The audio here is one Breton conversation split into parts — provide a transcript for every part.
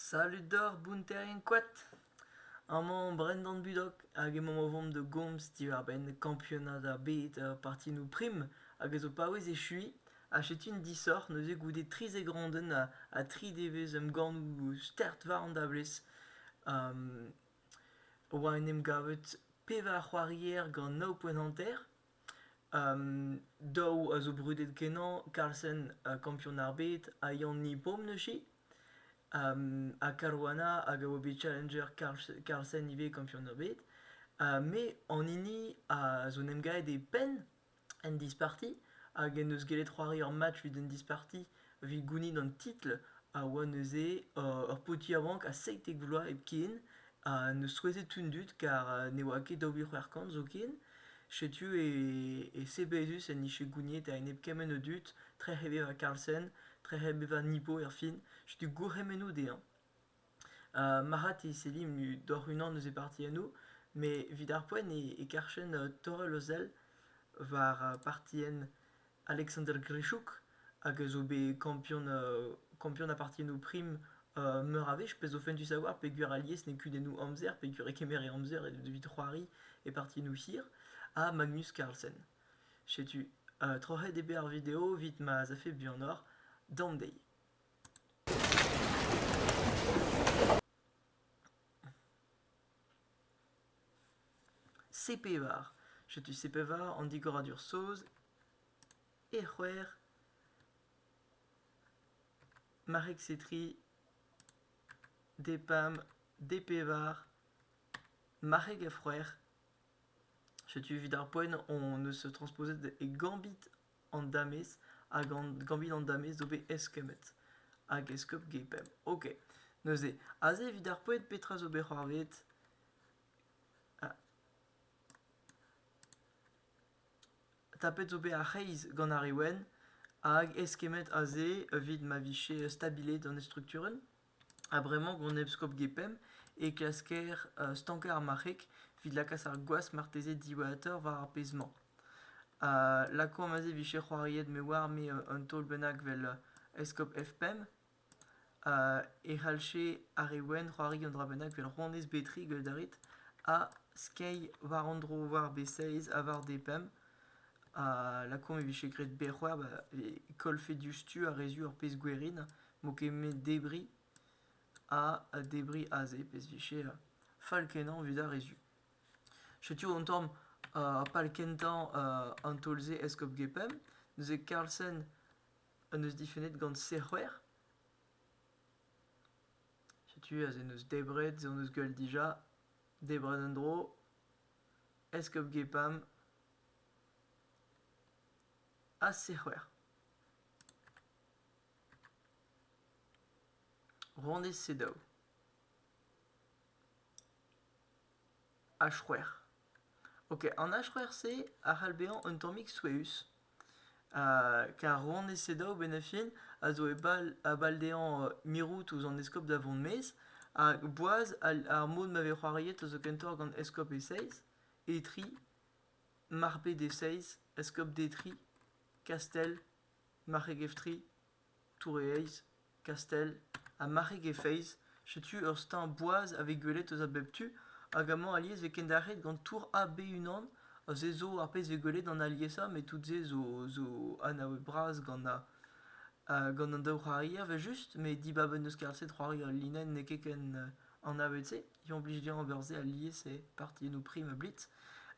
Salud deoc'h bounterien koad. Amañ Brendan Budok hag emaomp o vont da gomz diwar-benn kampionad ar bed partinoù prim hag a zo paouez echuiñ ha setu un disoc'h neuze goude trizek randenn ha tri devezh emgannoù start war an dablez. oa en em gavet pevar c'hoarier gant nav poent hanter. Daou a zo brudet-kenañ, Carlsen kampion ar bed ha Yann Nipom neuze. ha Caruana hag a oa bet challenger Carlsen ivez kampion ar bed. me an hini a zo 'n em gavet e penn en disparti hag en deus gellet c'hoari ur match evit un disparti. evit gounit an titl a oa neuze ur paotr yaouank a seitek vloaz hepken ha neus souezhet tout an dud kar ne oa ket daou vil c'hwec'h kant zoken setu e sebezus en dije gouniet a-enep kement a dud trec'h e vevañ Carlsen trec'h e vevañ Nipo erfin setu gourc'hemennoù dezhañ marc'had e sellimp doc'h unan eus e partiennoù met evit ar poent e karfen torrel o sell war partienn Alexander Grischuk, hag a zo bet kampion ha partiennoù prim meur a wech, pezh zo fentus a oar peogwir alies n'eo kudennoù amzer peogwir e kemer e amzer evit c'hoari e partiennoù hir, ha Magnus Carlsen. Setu, troc'het eo bet ar video evit ma az afe buanoc'h. Down day! C-pevar setu C-pevar an digoradur saoz e c'hwec'h marek-setri d-pam d-pevar marc'heg a-frouezh setu evit ar poent hon eus transposet e gambit an damez hag an gambit an damez zo bet eskemmet hag eskob Gepemp. Ok, neuze, aze evit ar poent petra zo bet c'hoarvezet ah. tapet zo bet ar c'hreiz gant ar Rewen hag eskemmet aze evit ma vije stabilet an estrukturel? Ha bremañ, gant Eskob Gepemp, e klasker stankañ ar marc'heg evit lakaat ar gwaz marteze diwezhatoc'h war ar pezh-mañ. Ha lakaomp aze e vije c'hoariet me oar me un taol bennak 'vel Eskob F5 e c'hallje ar re wenn c'hoari un dra bennak 'vel Rouanez Betrig a garit ha skeiñ war an dro war B16 ha war D5. Ha lakaomp e vije graet berrc'hwec'h 'ba e kollfe diouzhtu ha re zu ur pezh gwerin. 'mo ket 'met debriñ a ha debriñ aze pezh 'vije fall-kenañ 'evit ar re zu. Setu an tamm pal kentañ an taol-se eskob Gepemp. Neuze Karlsen en deus difennet gant Sec'hwer. Setu aze en deus debret, se en deus gwell dija. Debret un dro. Eskob Gepemp ha Sec'hwer. Randez-Sedaou H-c'hwec'h Ok, an H-c'hwec'h-se a c'hall bezañ un tammig souezhus kar Randez-Sedaou benafin a zo e bal a bal dezhañ mirout ouzh an eskob da vont maez hag boaz ar mod ma vez c'hoariet a zo kentoc'h gant eskob e-seizh e tri marped e-seizh eskob d' e tri kastell Marc'heg-Evtri, Tour-e-Heiz, Kastell ha Marc'heg-e-Feiz, setu ur steuñv boaz a vez gwelet eus a bep tu hag amañ alies e vez kendalc'het gant Tour AB unan ha se zo ar pezh 'vez gwelet gant aliesañ met tout se zo zo anavet bras gant gant an daou c'hoarier evel-just met dibab en deus kaset c'hoari al linenn n'eo ket ken An navet-se, implij dezhañ ober se alies e partiennoù prim ha blitz,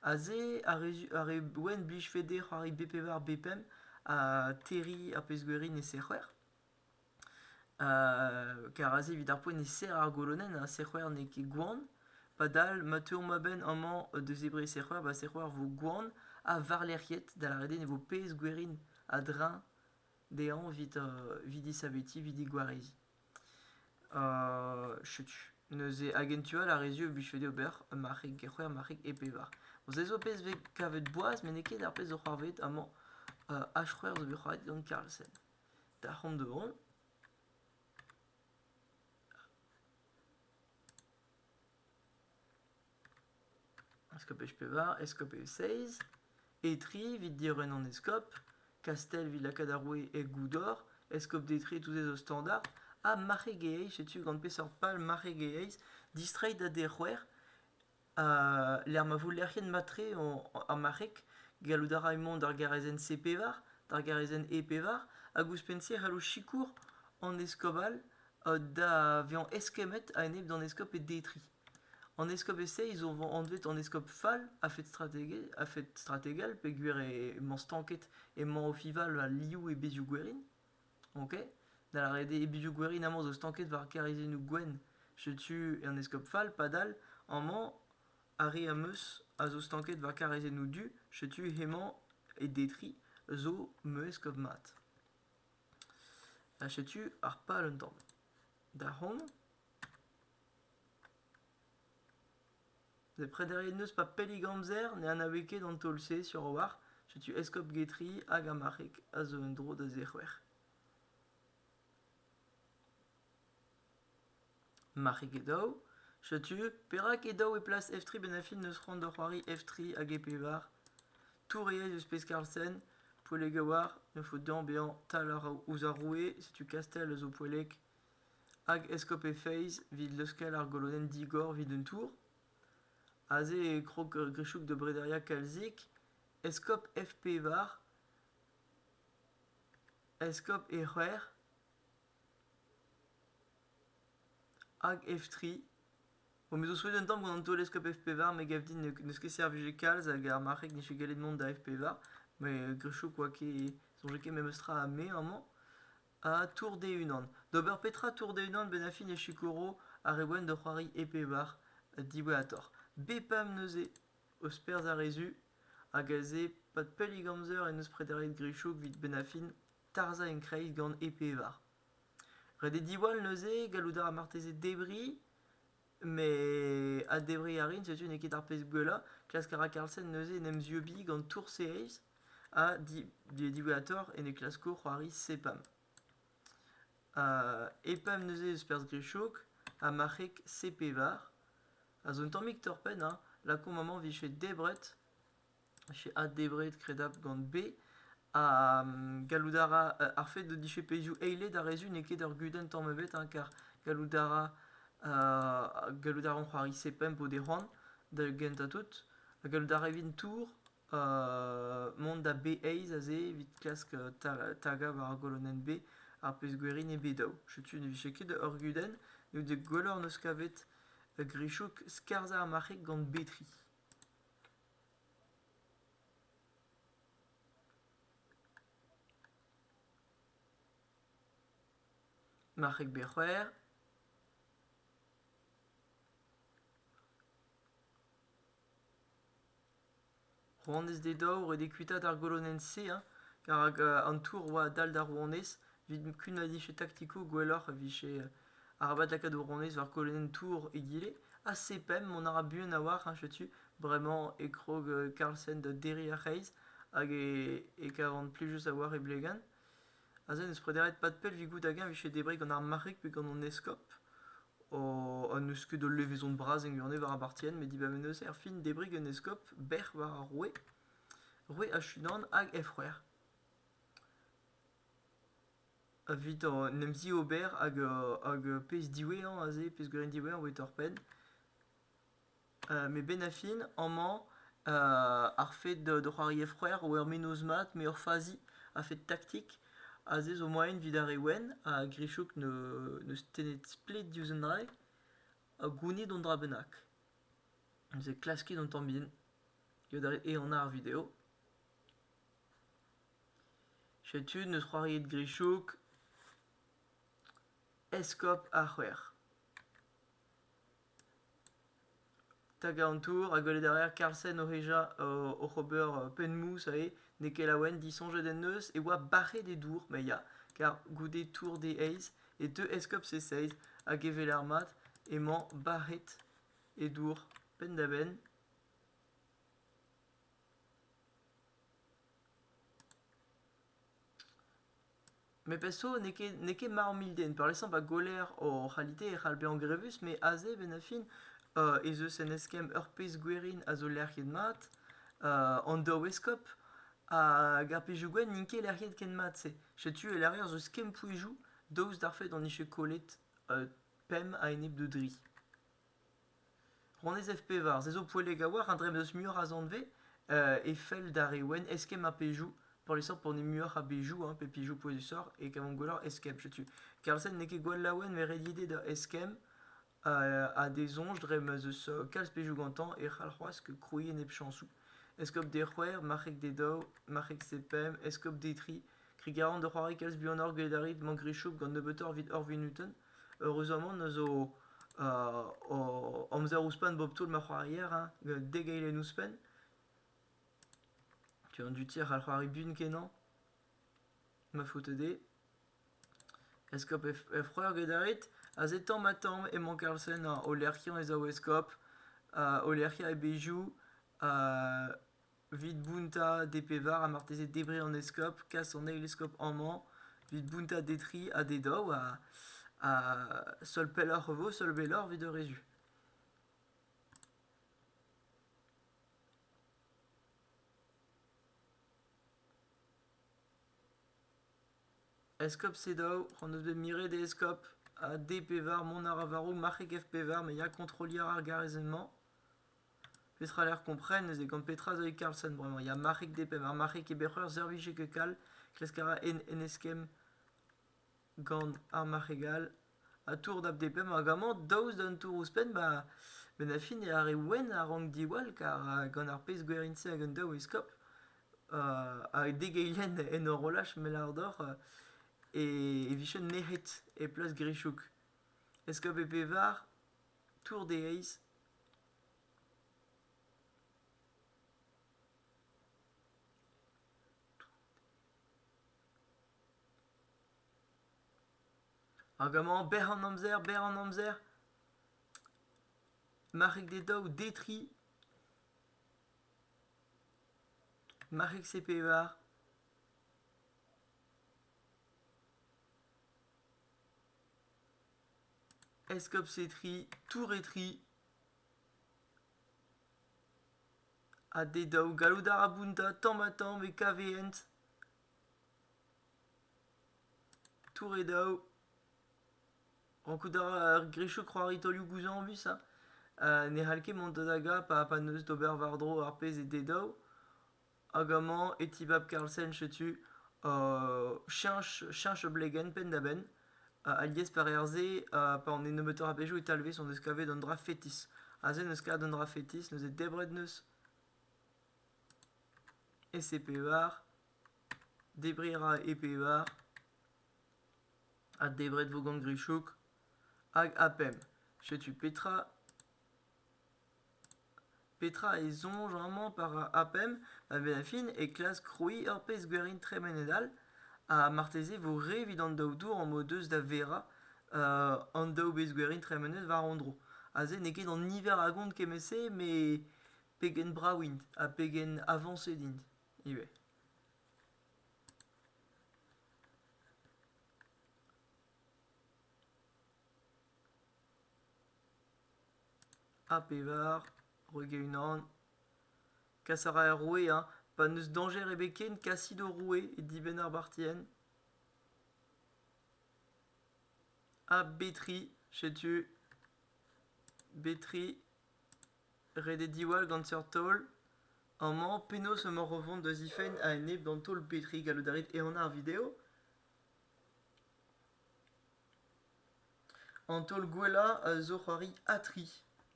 aze ar re, ar re wenn blijfe dezhe c'hoari B-pevar, B-pemp ha terriñ ar pezh-gwiri ne sec'her. Kar aze evit ar poent e serr ar golonenn ha sec'her n'eo ket gwan. Padal ma teuomp a-benn amañ da zebriñ sec'her, ba sec'her vo gwan ha warlerc'hiet, da lâret eo ne vo pezh gwerin a-dreñv dezhañ evit, evit disavetiñ, evit digwareziñ. Setu neuze hag en tu all ar re-se o blije dezho ober ur marc'heg get c'hwec'h marc'heg e pevar. Vo ez eus ur pezh 'vez kavet boaz met n'eo ket ar pezh zo c'hoarvezet amañ. H-c'hwec'h zo bet c'hoaret gant Carlsen. Da c'hont da vont. Eskob pevar, eskob seizh, Etri evit diorren an eskob, Kastell evit lakaat ar roue e goudor, eskob Detri tousdez o standard, ha Marc'heg-e-Eizh, setu gant peseurt pal Marc'heg-e-Eizh distreiñ da dec'houer ha lec'h ma vo lec'hienn mat-tre ar marc'heg. Gallout a ray mont d'ar garazenn C pevar, d'ar garazenn E pevar, hag ouzhpenn-se e c'hallo sikour an eskob all da vezañ eskemmet a-enep d'an eskob Detri. An eskob e-se ils ont anvet an eskob fall a-fed strategel, a-fed strategel peogwir emañ stanket emañ Ofival al liv e bezioù gwerin, ok? Da lâret eo e bezioù gwerin amañ zo stanket war karizennoù gwenn, setu an eskob fall padal amañ ar re am eus a zo stanket war karizennoù du, setu hemañ e Detry zo ma eskob mat. Ha setu ar pal un tamm. Da c'hont. Ne prederiet n'eus pa pellik amzer ne anaouez ket an taol-se sur a-walc'h setu eskob getri hag ar marc'heg a zo en-dro da zec'hwer marc'heg e daou setu perak e daou e plas f3 benafin n'eus c'hoant da c'hoari f3 hag e-pevar touriez eus pezh karlsen poellek a-walc'h ne faot dezhañ bezañ tal ouzh ar roue setu kastell a zo poellek Hag eskob he feiz 'vit leuskel ar golodenn digor 'vit un tour? Aze e krog Grichouk da brederiañ kalzik, eskob F pevar, eskob E c'hwec'h hag F tri. Bon, me zo souezhet un tamm gant an taol eskob F pevar, me gav din n'eus ket servijet kalz hag ar marc'heg n'eche gallet mont da F pevar. Mais Grichouk 'oa ket soñjet ket memes tra ha me amañ. Ha tour d'e-unan. D'ober petra tour d'e-unan bennafi ne sikouro ar re wenn da c'hoari e pevar diwezhatoc'h. Bepam neuze eus perzh ar re zu hag aze pad pellik amzer en deus prederiet Grichouk evit bennafin tarzhañ enkreiz gant e pevar. Ret eo diwall neuze gallout a ra marteze debriñ. Mais adevriñ a rin, setu n'eo ket ar pezh gwellañ. Klask a ra Carlsen neuze en em zieubiñ gant tours series ha di- diwezhañ a-torr en e klasko c'hoari sepam. epam neuze eus perzh Grischog ha marc'heg Sepevar, a zo un tammig torr-penn, hein, lakaomp amañ 'vije debret. J'ai adebret kredabl gant be ha gallout a ra ar fed dije pezhioù eiled ar re-se n'eo ket ur gudenn tamm ebet hein kar gallout a ra gallout a ran c'hoari sepemp o dez c'hoant da gentañ tout ha gallout a ra evit tour mont da be eizh aze evit klask tagañ war ar golonenn be ar pezh gwerin eo be daou. Setu ne vije ket ur gudenn ne out dek gwelloc'h 'neus kavet Grichouk skarzhañ ar marc'heg gant be tri. Marc'heg bet c'hwec'h. Rouanez d'e daou a roe d'e kuitaat ar golonenn-se hein, rak an tour a oa dall d'ar rouanez evit kunaat he taktikoù gwelloc'h e vije Arabat lakaat ho ronez war kolonenn tour egile, ha C-pemp mont a ra buan a-walc'h, hein, setu, bremañ e krog euh, Carlsen da derriñ ar c'hreiz, hag e, e kavan plijus a-walc'h e blegan. Aze n'eus prederiet pad pell 'vit goût hag-eñ 'vije debriñ gant ar marc'heg pe gant hon eskob. O- ha n'eus ket ul levezon bras en Gurnay war ar partienn, met dibaboe neuze erfin debriñ gant eskob bec'h war ar roue, roue Achudan hag he c'hwec'her. Evit an emzivober hag hag pezh diwezhañ aze, pezhgwirienn diwezhañ voe torped. Met benn ar fin amañ ar fed d'o c'hoari e-c'hwec'h eo ur mennozh mat met ur fazi a-fed taktik. Aze zo moaien evit ar re wenn ha Grichouk n'eus tennet splet diouzh un dra ha gounit un dra bennak. Neuze klaskit an tamm bihan, eo ehan ar video. Setu neus c'hoariet Grichouk, Eskob ar C'hwec'h. Tagañ an tour ha gwelet a raer Karlsen o hejañ oc'h ober penn-mous eo. N'eo ket laouen, disoñjet en deus e oa bac'het e dour ma ya, kar goude tour d' e eizh e teu eskob e seizh hag e weler mat emañ bac'het e dour penn-da-benn. Met perso n'eo ket n'eo ket ma amilden peurliesañ pa goller hor c'halite e c'hall bezañ grevus met aze bennañ-fin ez eus un eskemm ur pezh gwerin a zo lec'hiet mat an daou eskob hag ar pezhioù gwenn n'int ket lec'hiet ken mat-se. Setu e lârir zo skemmpoezioù daoust d'ar fed hon dije kollet pemp a-enep d'o dri. Honnezh F-pevar, se zo poellek a-walc'h, un dremm eus muioc'h a zanvez e fell d'ar re wenn eskemm ar pezhioù peurliesañ pour ne muioc'h a bezhioù hein, pe pezhioù pouezusoc'h e kavomp gwelloc'h eskemm. Setu Karlsen n'eo ket gwall laouen met ret ivez da eskemm ha d'e soñj dre ma'z eus kalz pezhioù gantañ e c'hall c'hoazh krouiñ enepchañsoù. Eskob d'e c'hwec'h, marc'heg d'e daou, marc'heg d'e pemp, eskob d'e tri, kregiñ a ran da c'hoari kalz buanoc'h gwelet a rit mañ Grischub gant nebeutoc'h evit hor munutenn. Eüruzamant a zo hor amzer ouzhpenn bep toull ma c'hoarier hein, dek eilenn ouzhpenn. Tu an du tir c'hall c'hoari buan-kenañ, ma faoto dezhe. Eskob Efreur get a rit, aze tamm-ha-tamm emañ Karlsen o lec'hiañ e zaou eskob, o lec'hiañ e bezhioù, Evit bountañ D-pevar ha marteze debriñ an eskob, kas an eil eskob amañ. Evit bountañ D-tri ha D-daou ha seul pelloc'h e vo, seul belloc'h evit ur rezu. Eskob C-daou, hon eus bet miret e eskob ha D-pevar mont a ra war-raok marc'heg F-pevar, ma ya kontrolliñ a ra ar garezenn-mañ. Petra 'lec'h kompren neuze gant petra zo e Karlsson bremañ ya marc'hig D-Pemp ha marc'hig e bec'h eur servij ket kal klask a ra en en eskemm gant ar marc'heg all ha tour dap D-Pemp hag amañ daoust d'un tour ouzhpenn ba bennafi ne arre wenn a rank diwall kar gant ar pezh gwerin-se hag un daou eskob ha dek eilenn en horolaj mell àr dor e e vijen nec'het e plas Grichouk. Eskob e pevar, tour d'e eizh. Hag amañ, berr an amzer, berr an amzer. Marc'heg d'e daou, detri. Marc'heg c'est pevar. eskoptsetri touretri ha d'e daou gallout a ra bountañ tamm-ha-tamm e kavehent touredaou rankout a ra ar grechoù c'hoari taolioù-gouzañvus ha ne c'hall ket mont da dagañ pa n'eus d'ober war-dro ar pezh eo d'e daou Hag amañ e tibab Carlsen setu cheñch cheñch e blegenn penn-da-benn alies pareer-se pa on e nebeutoc'h a bezhioù e talvez hon eus kavet un dra fetis. Aze n'eus kavet un dra fetis, neuze debret neus ese pevar, debriñ a ra e pevar, ha debret vo gant Grichouk, hag ha pemp. Setu petra. Petra e soñj amañ war ar pemp a vefin e klask krouiñ ur pezh-gwerin tremenet all? Ha marteze e vo re evit an daou dour am o deus da verañ an daou bezh-gwerin tremenet war an dro. Aze n'eo ket an niver a gont kement-se met pegen brav int ha pegen avañset int ivez. Ha pevar, roit e-unan. Kas a ra er roue hein, pa n'eus dañjer ebet ken kasit ho roue e dibenn ar bartienn. Ha betri, setu. Betri, ret eo diwall gant seurt taol. Amañ, penaos emaoc'h o vont da zifenn a-enep d'an taol betri gallout a rit ehanañ ar video? An taol gwellañ a zo c'hoari Atri,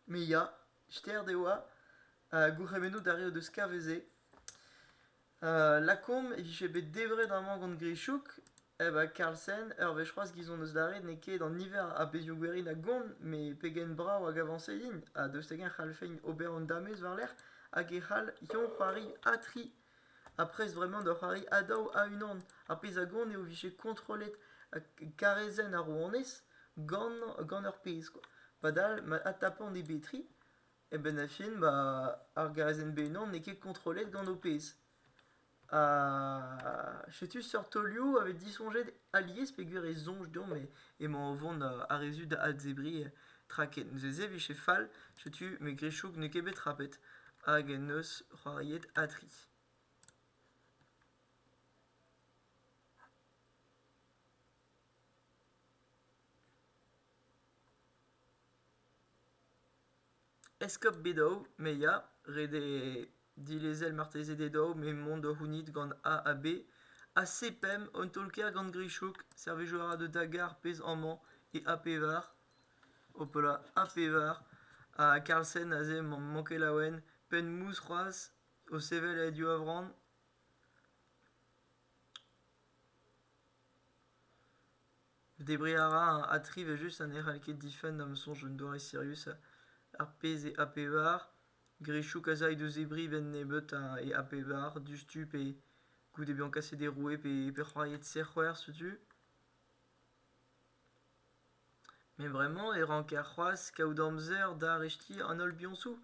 me ya, start eo ha gourc'hemennoù d'ar re o deus kaveze. lakaomp e vije bet debret amañ gant Grichouk eh ba Karlsen, ur wech c'hoazh gizon eus d'ar red n'eo ket an niver a bezhioù-gwerin a gont, met pegen brav hag avañset int, ha daoust hag-eñ e c'hallfent ober an damez war-lerc'h hag e c'hall-eñ c'hoari Atri. Ha prest vremañ da c'hoari ha daou ha unan. Ar pezh a gont eo vije kontrollet karezenn ar rouanez gant, gant ur pezh kwa. Padal ma adtapant e betri, e benn ar fin ba ar garezenn b-unan n'eo ket kontrollet gant ho pezh. Ha setu seurt taolioù a vez disoñjet alies peogwir e soñj deomp emañ o vont a-rezud da adzebriñ Tra ket, neuze e vije fall, setu me grichouk n'eo ket bet trapet, hag en deus c'hoariet Atri. Eskop Bedou, me ya, ret eo dilezel marteze Dedou, me mont da c'hounit gant A ha B. Ha C pemp, un taol-kaer gant Grichouk, servijour a ra da Dagar, pezh amañ, e A pevar. Hopala, ha pevar! ha Karlsen aze emañ mankelaouen, penn mousc'hoazh o sevel e div-avran. Debriñ a ra ha tri evel-just ha ne c'hall ket difenn da'm soñj un doare sirius ar pezh eo A-pevar. Grischouk a zay d'o zebriñ benn nebeut ha e A-pevar diouzhtu pe goude bezañ kaset e roue pe c'hoariet sec'hwec'h setu. Met bremañ e ranker c'hoazh kaout amzer da arestiñ an holl biañsoù.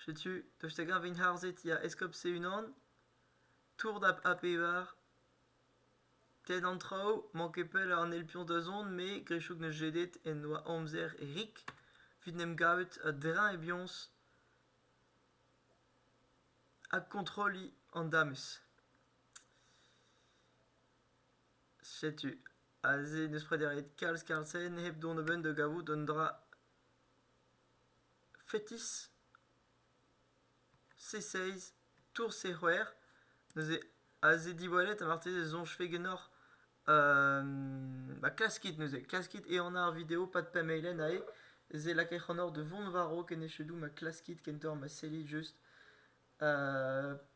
Setu, tost hag-eñ int harzet ya, eskob Seeunnan, tour da A-pevar, tenn an traoù, mank ket pell an eil piañs da zont me, Grisoug ne jedet en doa amzer rik, evit 'n em gavet a-dreñv e biañs ha kontrolliñ an damez. Setu aze n'eus prederet kalz-kalz zen hep dont a-benn da gavout un dra fetis. C6, Tour C6, neuze aze diwallet ha marteze e soñjfe ganeoc'h ba klaskit neuze, klaskit ehanañ ar video pad pemp-eilenn aze, se lakait c'hanoc'h da vont war-raok en echedoù ma klaskit kentoc'h ma sellit just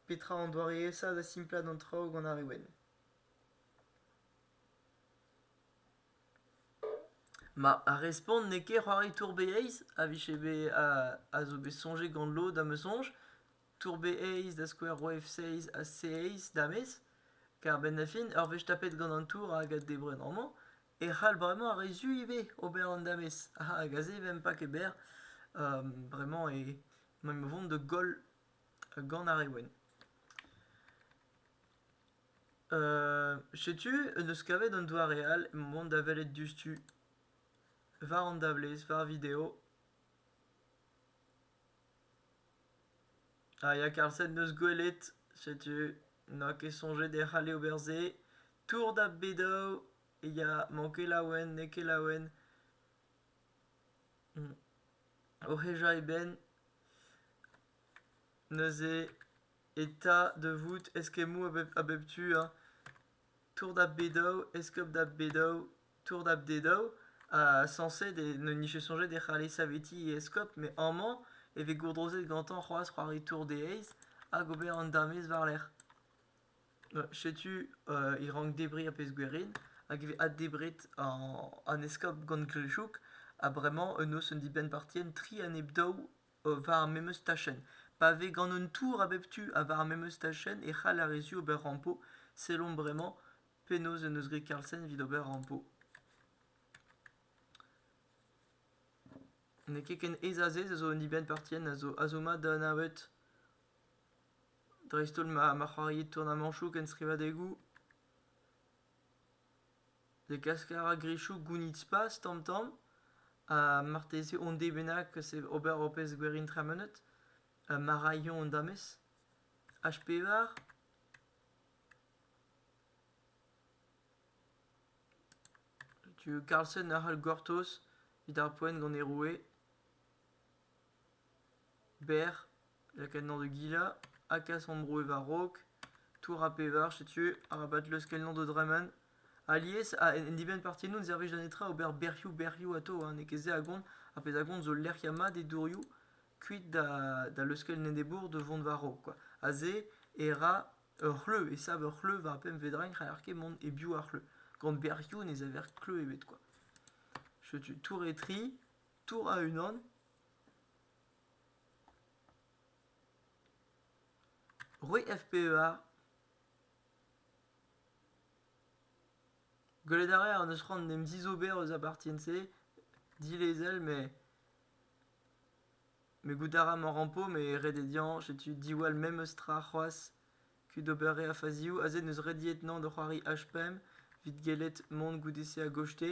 petra an doareesañ da simplañ an traoù gant ar re wenn. Ma ar respont n'eo ket c'hoari tour-beiz a vije bet a zo bet soñjet gant lod am eus soñj tour-beiz da skouer roue f-seiz ha c-eiz damez kar a-benn da fin ur wech tapet gant an tour hag a debren amañ e c'hall bremañ ar re zu ivez ober an damez hag aze vemp pas ket berr bremañ emaomp o vont da goll gant ar re wenn. Setu en deus kavet an doare all emañ mont da welet diouzhtu war an dablez, war video. Ha ya Karlsen 'neus gwelet, setu n'a ket soñjet e c'halle ober se. Tour da Bedow ya, m'on ket laouen, n'eo ket laouen. O hejañ e benn neuze. eta da vout eskemmoù a bep tu hein tour da b-daou eskob da b-daou tour da b-daou ha sañset e ne nije soñjet e c'halle savetiñ e eskob met amañ e vez gourdrozet gantañ c'hoazh c'hoari tour des heiz hag ober an damez war-lerc'h setu e rank debriñ ar pezh-gwerin hag e vez addebret an eskob gant Glezhoug ha bremañ e noz un dibenn-partienn tri a nep daou war ar memes tachenn. Pa vez gant un tour a bep tu ha war ar memes tachenn e c'hall ar re zu ober rampo. Sellomp bremañ penaos en deus graet Carlsen evit ober rampo. N'eo ket ken aes azez a zo un dibenn partien a zo azoma da anavet dreist-holl ma, ma c'hoariit tournamañchoù ken skrivadegoù. Degask a ra grichoù gounid-spas tamm-tamm ha marteze onn-dez bennak eus ober ur pezh gwerin tremenet ma ra eñ an damez. H-pevar. Karlsen a c'hall gortoz evit ar poent gant e roue. Berr, lakadenn-nor da gilañ, ha kas hon bro war-raok, tour ar pevar, setu arabat leuskelnañ d'o dremen. Alies, en dibenn partiennoù ne servij da netra ober berrioù-berrioù atav, ha n'eo ket se a gont. Ar pezh a gont zo lec'hiañ mat e dourioù, kuit da leuskel enebour da vont war-raok kwa. Ha se e ra ur c'hleuz, e sav ur c'hleuz war pemp vedrin, n'haller ket mont e-biou ar c'hleuz. Gant berrioù ne saver kleuz ebet kwa. Setu tour e tri. Tour a-unan Roue FPEA Gwelet a raer an eus c'hoant d'em zizober eus a bartien-se dilezel mais me goût a ra mañ rampo mais ret eo dezhañ setu diwall memes tra c'hoazh kuit ober re a fazioù aze n'eus rediet 'nañ da c'hoari H-pemp 'vit gellet mont goude-se a-gozhte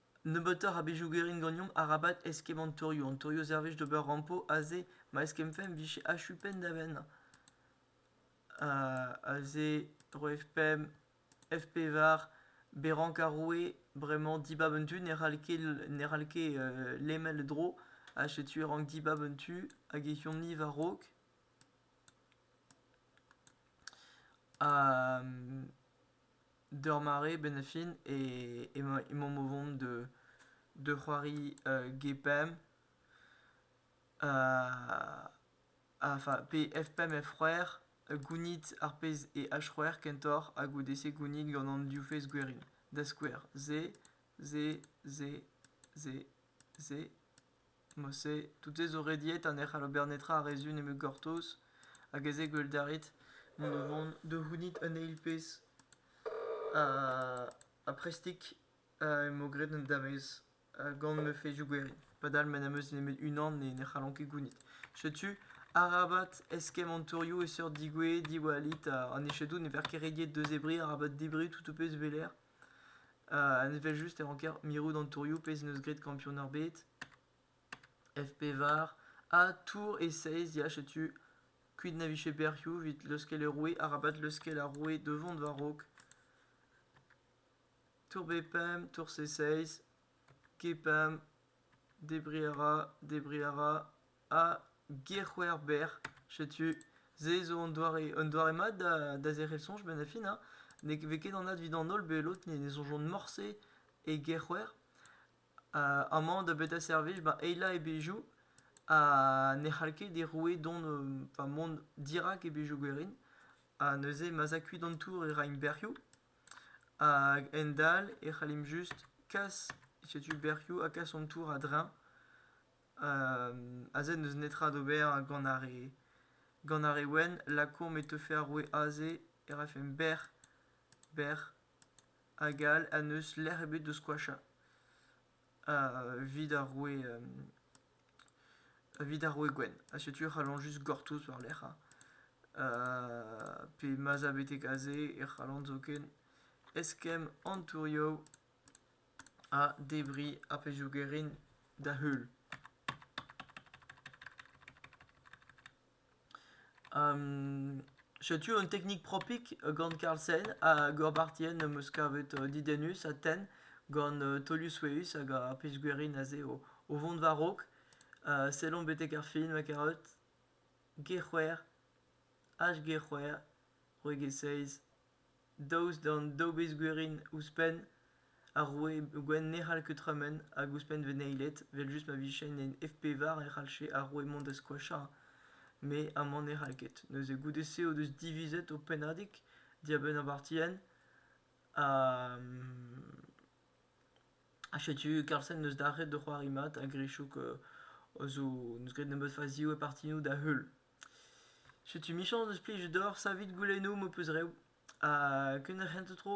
Nebeutoc'h a bezhioù garin ganeomp arabat eskemmañ torioù. An torioù servij d'ober rampo aze ma eskemmfemp 'vije achu penn da benn. aze roe pemp, F pevar, berrank ar roue. Bremañ dibab un tu ne c'hall ket ne c'hall ket lemel e dro ha setu e rank dibab un tu hag e chomp-ni war-raok. D'ur mare benefin emaomp o vont da c'hoari G-Pump enfin F-Pump F-c'hwec'h, gounit ar pezh eo H-c'hwec'h kentoc'h ha goude-se gounit gant an div fezh gwerin. Da skouer, se, se, se, se, se. Mod-se, tout-se zo rediet ha ne c'hall ober netra a re zu nemet gortoz, hag ez eo gwell da ret mont da vont da c'hounit un eil pezh. Ha prestik emañ graet an damez gant ma fezioù gwerin. Padal ma n'am eus nemet unan ne ne c'hallan ket gounit. Setu, arabat eskemm an tourioù e seurt digouezhe diwallit ha an echedoù ne vez ket rediet da zebriñ arabat debriñ tout ho pezh e-lec'h. Un evel-just e ranker mirout an tourioù, pezh n'eus graet kampionad ebet. FP var. Ha tour e seiz, ya, setu kuit na vije berrioù evit leuskel e roue, arabat leuskel ar roue devant va raok. Tour B5, tour C6, G5, debris a ra, debris a ra, Ha Gerc'hwec'hber, setu se zo un doare un doare mat da da zerc'hel soñj benn ar fin hein. Ne vez ket anat evit an holl bet lod ne soñjont morse e Gerc'hwer. Amañ da betra servij ba eilañ e bezhioù ha ne c'hall ket e roue dont enfin mont dirak e bezhioù gwerin. Ha neuze ma'z a kuit an tour e raimp bec'hioù. Hag endalc'h e c'hallimp just kas setu bec'hioù ha kas an tour a-dreñv. Aze n'eus netra d'ober gant ar re gant ar re wenn. Lakaomp e teufe ar roue aze e rafemp bec'h bec'h hag all ha n'eus lec'h ebet da skoachañ evit ar roue evit ar roue gwenn. Ha setu e c'hallont just gortoz war-lerc'h pe ma'z a betek aze e c'hallont zoken eskemm an tourioù ha debriñ ar pezhioù garin da heul. setu un teknik propik gant Carlsen ha Gorbatien am eus kavet didennus Aten gant taolioù souezhus hag ar pezh gwerin aze o vont war-raok. sellomp betek ar fin ma karet G c'hwec'h, H G c'hwec'h, c'hwec'h e seizh. Daoust d'an daou bezh-gwerin ouzhpenn, ar roue gwenn ne c'hall ket tremen hag ouzhpenn veneiled, evel-just ma vijen en F-pevar e c'hallfe ar roue mont da skoachañ, met amañ ne c'hall ket. Neuze goude-se o deus divizet o pennadig dibenn ar partienn ha ha setu Carlsen 'neus dalc'het o c'hoari mat hag Richouk 'zo 'neus graet nebeut fazioù e partioù da-heul. Setu emichañs deus plijout deoc'h savit goulennoù m'ho peus reoù ha kenderc'hent tro.